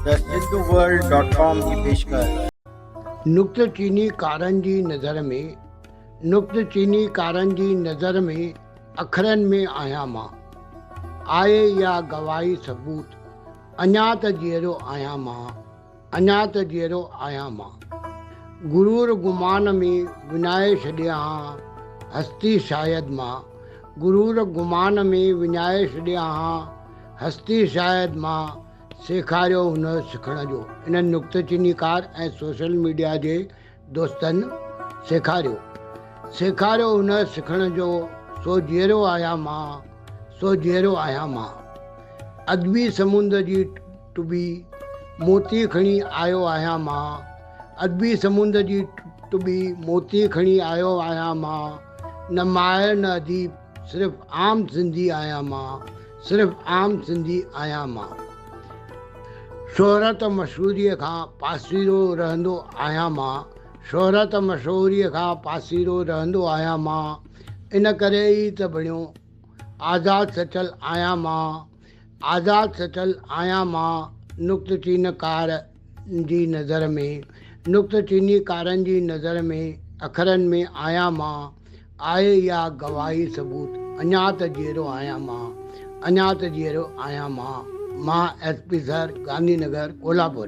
thehinduworld.com جي پيشڪش. نقطه چيني ڪارن جي نظر ۾، نقطه چيني ڪارن جي نظر ۾، اکرن ۾ آهيان مان. آء اها گواهي ثبوت، اڃا ته جيئرو آهيان مان، اڃا ته جيئرو آهيان مان. غرور گمان ۾ وڃائي ڇڏيا هان هستي شايد مان، غرور گمان ۾ وڃائي ڇڏيا هان. هستي شايد مان سيکاريو هونس سکڻ جو انهن نڪته چيني ڪار ۽ سوشل ميڊيا جي دوستن سيکاريو سيکاريو هونس سکڻ جو سو جيئرو آهيان مان سو جيئرو آهيان مان ادبي سمنڊ جي ٽٻي موتي کڻي آيو آهيان مان ادبي سمنڊ جي ٽٻي موتي کڻي آيو آهيان مان نه ماهر نه اديب صرف عام سنڌي آهيان مان صرف عام سنڌي آهيان مان شهرت و مشهوريء کان پاسيرو رهندو آهيان مان شهرت مشهوريء کان پاسيرو رهندو آهيان مان ان ڪري ئي ته بڻيو آزاد سچل آهيان مان. آزاد سٽل آهيان مان نقطه چين ڪار جي نظر ۾، نقطه چيني ڪارن جي نظر ۾ اکرن ۾ آهيان مان، آء اها گواهي ثبوت، اڃا ته جيئرو آهيان مان، اڃا ته جيئرو آهيان مان، مان S P sir, Gandhi Nagar, Kolhapur.